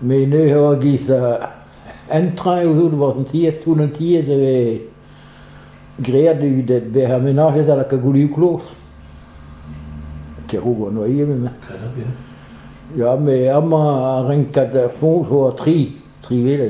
Menez a-giz un traoñ zo war an tiez, toull an tiez e vez graet evit bezañ menajet da lakaat goulioù kloz. Keroù an oa ivez met... Ya, met amañ ar renkad foñs zo tri, tri wele.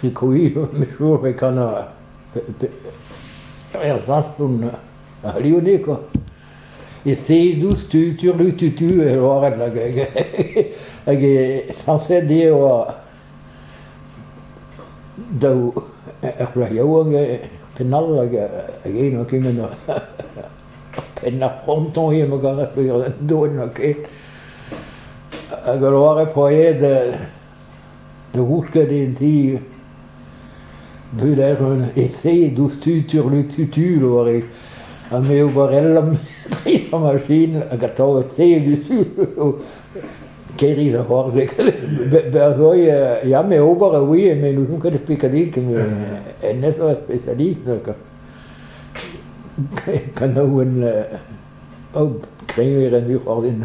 sikour e kan er safon aliounik quoi. E Seedus tu-tu-tu e oared hag hag e sañset eo daou ur plac'h yaouank e penn-all hag eno kement penn ar fronton eo ma garer doenn ket. Hag ul loare poaed da gousket en ti bruder un ese diouzhtu turlututur war e ha me oberellañ da masin hag atav ese diouzhtu kêrig ar c'hoarzeg berzhoy ya me ober oui me n'ouzon ket ar pekadil ken hennezh eo ar spesialist kanaouenn oh kreñver en dic'hoarzhin